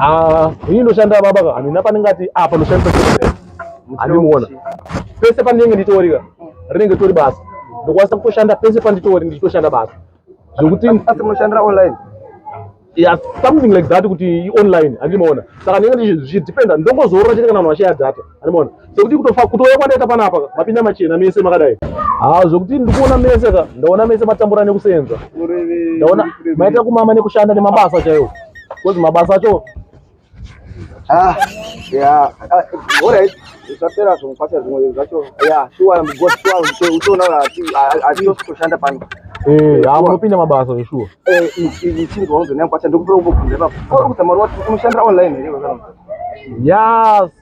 Ah, hii ndo shanda baba ka. Amina panenge ati ah pano shanda. Alimuona. Pese panenge nditori ka. Rinenge tori basa. Ndokwanisa kutoshanda pese panditori ndichitoshanda basa. Zvokuti asi munoshandira online. Yeah, something like that kuti online andimaona. Saka ndinenge ndichidependa ndongozorora chete kana vanhu vashaya data. Anibona. Sekuti kutofa kutouya kwandaita panapa mapinda machena mese makadai. Ah zvekuti ndikuona mese ka ndaona mese matambura nekusenza. Ndaona maita kumama nekushanda nemabasa chaiwo. Kozi mabasa acho Ah, yeah. Ah, all right. Usapera zvomupata zvimwe zvacho. Yeah, sure, I'm good. Sure, utoona ati ati kushanda pano. Eh, hamunopinda mabasa zveshuwa. Eh, ichinzwa unzonyangu kwacha ndokupera kubvunza ipapo. Uri kusamara wati unoshandira online here wekanonzi? Yes.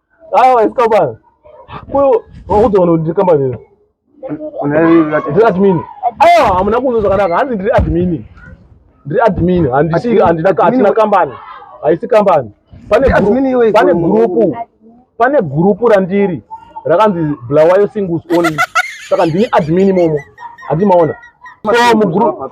Awa isi company. Kuyo wakutoona kuti company iri. Ndiri admin. Awa hamuna kunzwa zvakanaka. Hanzi ndiri admin. Ndiri admin. Handisi handina katina company. Haisi company. Pane group. Pane group. Pane group randiri. Rakanzi Blawayo Singles Only. Saka ndini admin momo. Handi maona. So mu group.